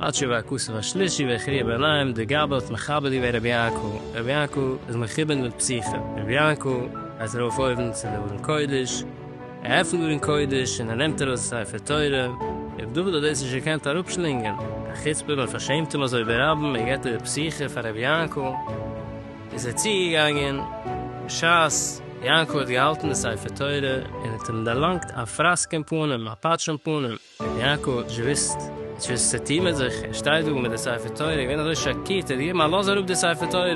עד שבא הכסף השלישי והכריע בעיניים די גאב ד האט מכבד געווען רבי יעקב, רבי יעקב איז מכובד מיט פסיכע, רבי יעקב גייט ארויף אויבן צו די ארון קודש, ער עפנט די ארון קודש און ער נעמט ארויס די ספר תורה, רבי דוד האט דאס נישט געקענט אראפשלינגען, א חוצפה מען פארשעמט אים אזוי ברבים ער געבט איבער פסיכע פאר רבי יעקב, איז ער צוגעגאנגען בשעת יעקב האט געהאלטן די ספר תורה און האט אים דערלאנגט א פראסק אין פנים, א פאטש אין פנים. רבי יעקב האט נישט געוואוסט צו עס טעימעט זיך, ער שטייט דא מיט די ספר תורה, איז געווען אזוי שאקירט, ער האט געגעבן א לאז אראפ די ספר תורה,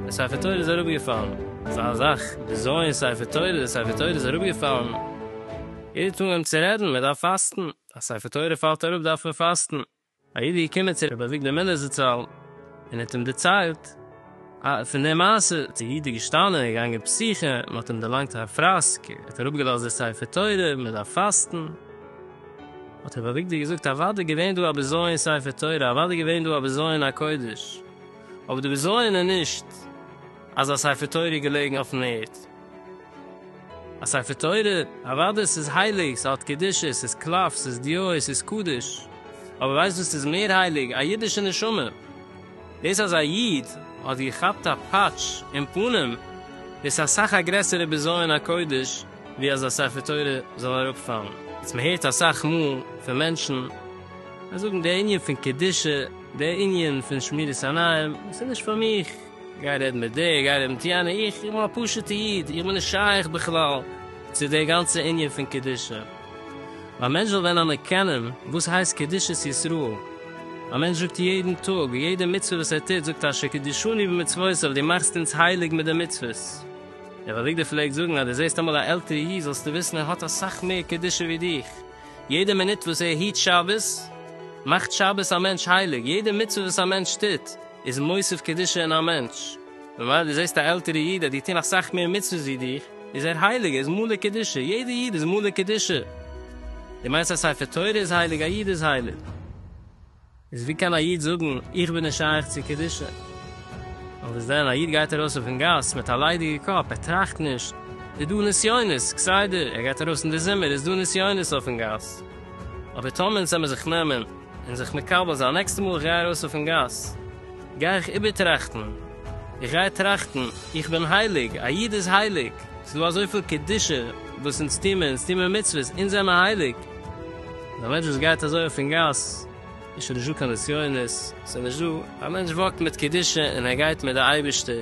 די ספר תורה איז אראפגעפאלן. אזא זאך, בזיון ספר תורה, די ספר תורה איז אראפגעפאלן, יעדער האט אנגעהויבן צו רעדן, מען דארף פאסטן, א ספר תורה פאלט אראפ דארף מען פאסטן. א איד איז געקומען צו רבי אביגדור מילער זצל און האט אים דערציילט פון די מעשה, די איד איז געשטאנען און געגאנגען פסח'ן, מען האט אים דערלאנגט א פראסק, ער האט אראפגעלאזט די ספר תורה, מען דארף פאסטן, האט רבי אביגדור געזאגט אוודאי געווען דא א בזיון ספר תורה, אוודאי געווען דא א בזיון הקודש, אבער די בזיון איז נישט אז א ספר תורה איז געלעגן אויפן ערד. א ספר תורה? אוודאי ס'איז הייליג, ס'האט קדושה, ס'איז קלף, ס'איז דיעות, ס'איז קדוש. אבער ווייסט וואס איז מער הייליג? א אידישע נשמה. דאס אז א איד האט געכאפט א פאטש אין פנים, דאס איז אסאך א גרעסערע בזיון הקודש ווי אז א ספר תורה זאל אראפפאלן. יעצט מען הערט אסאך מאל פון מענטשן, זיי זאגן, דער ענין פון קדושה, דער ענין פון שמירת עיניים, דאס איז נישט פאר מיך. גיי רעד מיט דער, גיי רעד מיט יענער, איך בין א פשוט'ע איד, איך בין נישט שייך בכלל צו די גאנצע ענין פון קדושה. א מענטש זאל ווען אנערקענען וואס הייסט קדושת ישראל, א מענטש זאגט יעדן טאג, יעדע מצוה וואס ער טוט, זאגט אשר קדשני במצוותיך, דו מאכסט אונז הייליג מיט די מצוות. רב אביגדור פלעגט זאגן, אז דו זעסט אמאל א עלטערע איד, זאלסטו וויסן ער האט אסאך מער קדושה ווי דיך, יעדע מינוט וואס ער היט שבת, מאכט שבת א מענטש הייליג, יעדע מצוה וואס א מענטש טוט, איז מוסיף קדושה אין א מענטש, ממילא דו זעסט א עלטערע איד אז די טון אסאך מער מצוות ווי דיך, איז ער הייליג, ער איז מלא קדושה, יעדע איד איז מלא קדושה, דו מיינסט א ספר תורה איז הייליג, א איד איז הייליג? איז ווי קען א איד זאגן איך בין נישט שייך צו קדושה? און וואס דען, א איד גייט ארויס אויפן גאס מיט א ליידיגע קאפ, ער טראכט נישט, איז דא נסיונות, כסדר ער גייט ארויס אין די זומער איז דא נסיונות אויפן גאס, אבער טאמער אונז העמער זיך נעמען, און זיך מקבל זיין, נעקסטע מאל איך גיי ארויס אויפן גאס גיי איך איבערטראכטן, איך גיי טראכטן, איך בין הייליג, א איד איז הייליג, ס'איז דא אזויפיל קדושה וואס אונז טוהן מיר, אונז טוהן מיר מצוות, אונז זעמער הייליג, און א מענטש וואס גייט אזוי אויפן גאס, איז שוין נישט דא קיין נסיונות, ס'איז נישט דא, א מענטש וואקט מיט קדושה און ער גייט מיט די אייבערשטער.